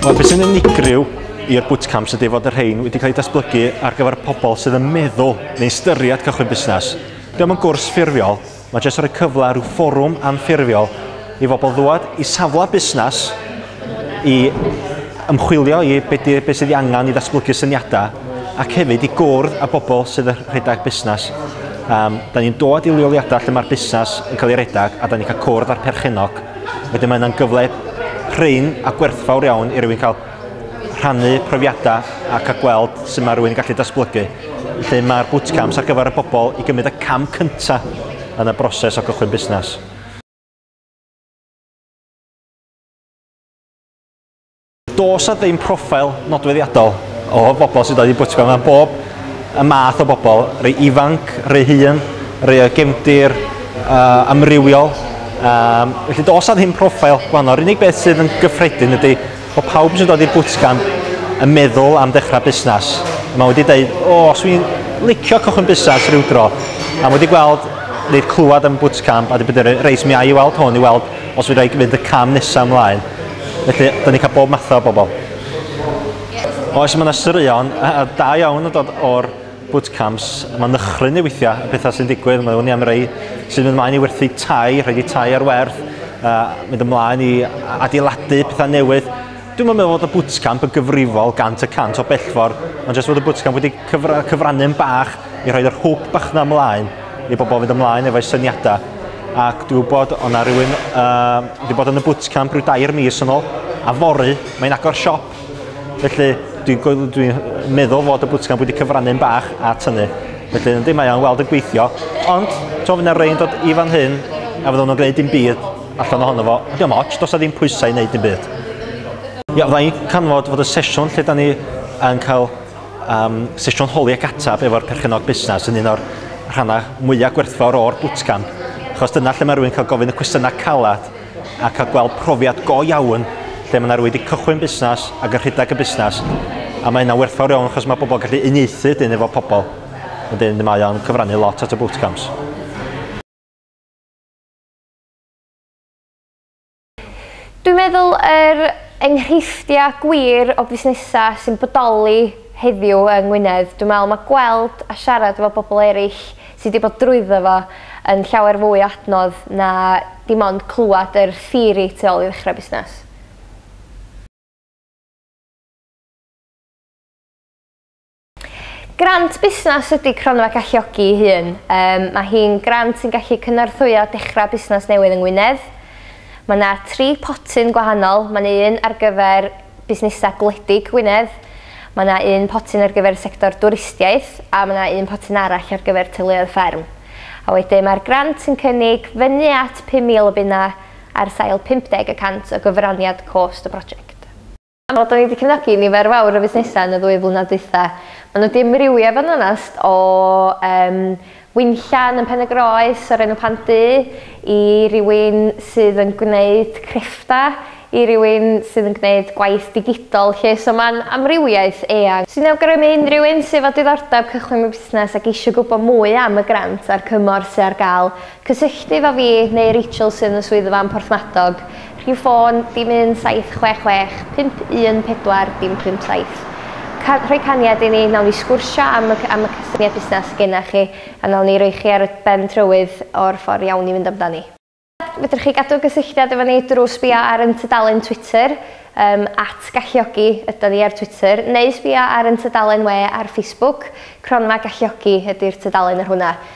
Wel, beth sy'n unigryw i'r bootcamps ydy fod y rhain wedi cael eu datblygu ar gyfer pobl sydd yn meddwl neu ystyried cychwyn busnes. Dyma yn gwrs ffurfiol, Mae jyst rhoi cyfle a rhyw fforwm anffurfiol i fobl ddwad i safle busnes i ymchwilio i beth be sydd ei angen i ddatblygu syniadau ac hefyd i gwrdd â bobl sydd yn rhedeg busnes. Um, da ni'n dod i leoliadau lle mae'r busnes yn cael ei redeg a da ni'n cael cwrdd â'r perchennog. Wedyn mae yna'n gyfle prin a gwerthfawr iawn i rywun cael rhannu profiadau ac a gweld sut mae rhywun yn gallu datblygu. Felly mae'r bootcamps ar gyfer y bobl i gymryd y cam cyntaf yn y broses o gychwyn busnes. Does 'na ddim profile nodweddiadol o bobl sy'n dod i bootcamp, mae bob y math o bobl, rei ifanc, rei hŷn, rei o gefndir uh, amrywiol. Um, felly does 'na ddim profile gwahanol, yr unig beth sydd yn gyffredin ydy Mae pawb sy'n dod i'r bwtcamp yn meddwl am dechrau busnes. Mae wedi dweud, o, swn i'n licio cychwyn busnes rhyw dro. A mae wedi gweld neu clywed am y bwtcamp a wedi bod yn reit, mi a i weld hwn i weld os fedra i fynd y cam nesaf ymlaen. Felly, da ni'n cael bob mathau o bobl. Oes, mae yna straeon da iawn yn dod o'r bootcamps, mae nychryn i weithiau, y pethau sy'n digwydd, mae hwnni am rei sy'n mynd ymlaen i werthu tai, rhaid i tai ar werth, uh, mynd ymlaen i adeiladu pethau newydd. Dwi'n meddwl bod y bootcamp yn gyfrifol gant y cant o bellfor, ond jyst bod y bootcamp wedi cyfra, cyfrannu yn bach i rhoi'r hwb bach na ymlaen i bobl fynd ymlaen efo'i syniadau. Ac dwi'n gwybod o'na rhywun uh, wedi bod yn y bootcamp rhyw dair mis yn ôl, a fory, mae'n agor siop, Felly, dwi'n dwi, dwi meddwl fod y bwtcamp wedi cyfrannu'n bach at hynny. Felly, yndi, mae o'n weld yn gweithio. Ond, to, fyna rhain dod i fan hyn, a fydden nhw'n gwneud dim byd allan ohono fo. Ydy o'n ots, dos a ddim pwysau i wneud dim byd. Ia, fydda i'n canfod fod y sesiwn lle da ni yn cael um, sesiwn holi ac ateb efo'r perchenog busnes yn un o'r rhannau mwyaf gwerthfawr o'r bwtcamp. Achos dyna lle mae rhywun cael gofyn y cwestiynau calad a cael gweld profiad go iawn lle mae 'na rywun wedi cychwyn busnes ac yn rhedeg y busnes a mae hynna'n werthfawr iawn achos mae pobl gallu uniaethu wedyn efo pobl wedyn mae o'n cyfrannu lot at y bootcamps. Dwi'n meddwl yr enghreifftia' gwir o busnesa' sy'n bodoli heddiw yng Ngwynedd dwi'n me'wl ma' gweld a siarad efo bobol eryll sy 'di bod drwyddo fo yn llawer fwy o adnodd na dim ond clwad yr theori tu ôl i ddechra busnas. Grant busnas ydi Cronfa Galluogi i Hun. Yym ma' hi'n grant sy'n gallu cynorthwyo dechra busnas newydd yng Ngwynedd. Ma' 'na tri potyn gwahanol ma' 'na un ar gyfer busnesau gwledig Gwynedd. Mae yna un potyn ar gyfer y sector dwristiaeth a mae yna un potyn arall ar gyfer teuluoedd fferm. A wedyn mae'r grant yn cynnig fyny at 5,000 o bunnau ar sail 50 y cant o gyfraniad cost y prosiect. Wel, dan ni wedi cefnogi nifer fawr o fusnesau yn y ddwy flynedd dwytha. Maen nhw wedi amrywio i fod yn onest o yym Winllan yn Pen-y-groes o'r enw Pant Du i rywun sydd yn gwneud crefftau, i rywun sydd yn gwneud gwaith digidol 'lly, so mae'n amrywiaeth eang sy'n awgrymu unrhyw un sydd efo diddordeb cychwyn mewn busnes ac eisiau gwybod mwy am y grant a'r cymorth sydd ar gael, cysylltu efo fi neu Rachel sydd yn y swyddfa yn Porthmadog Rhif ffôn, dim 1766 514 dim 57. Ca- rhoi caniad i ni, wnawn ni sgwrsio am y c- am y cysyniad busnes sy gennych chi a wnawn ni roi chi ar y ben trywydd o'r ffordd iawn i fynd amdani. Fedrwch chi gadw cysylltiad efo ni drwy sbïo ar ein tudalen Twitter, yym, @galluogi ydan ni ar Twitter, neu sbïo ar ein tudalen we ar Facebook, Cronfa Galluogi ydi'r tudalen ar hwnna.